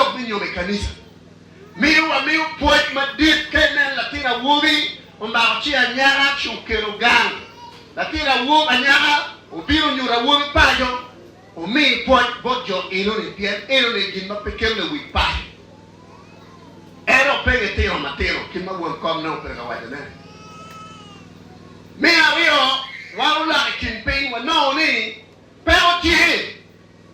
lok me nyomo i kanica miyo wamiyo pwoc madit. Ka ineno latin awobi omako ci anyaka ci okelo gang, latin awobi anyaka obino nyo awobi paco omi pwoc bot jo enoni pien enoni gin ma pe kelo lewic paco. En opege itino matino kit ma won kom nongo pedo ka wacone. Me aryo, wan oloko i kin piny wanongo ni peko tye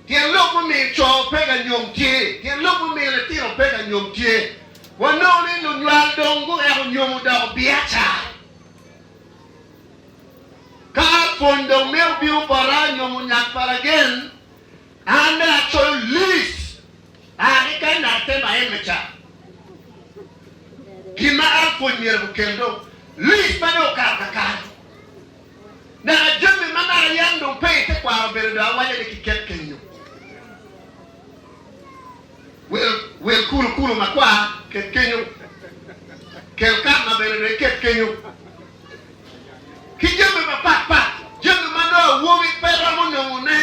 Tyen lok mumiyo co pe ka nyom tye. Tyen lok mumiyo litino pe ka nyom tye, Wanongo ni lunywal dong guweko nyom odoko biacara. Ka pwony dong mito bino bota nyom onyak pa lagen, an dong acoyo lis a ki ka natte ma emme ca. Gin ma an pwony myero gukel dong lis ma dong okato kakare. Naka jami ma naka yam dong pe i tekwaro obedo dong awaco ni kiket kenyo. Wel, wel kulu kulu makwar ket kenyo. Kel karma bene dong iket kenyo. Ki jami mapat pat, jami ma nongo awobi pe romo nongo ne.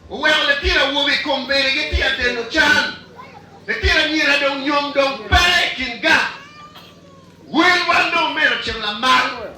Oweko litino awobi i kom bene gityer deno can. Litino anyira dong nyom dong pe i kin gang. Wel wan dong omeno cen lamal.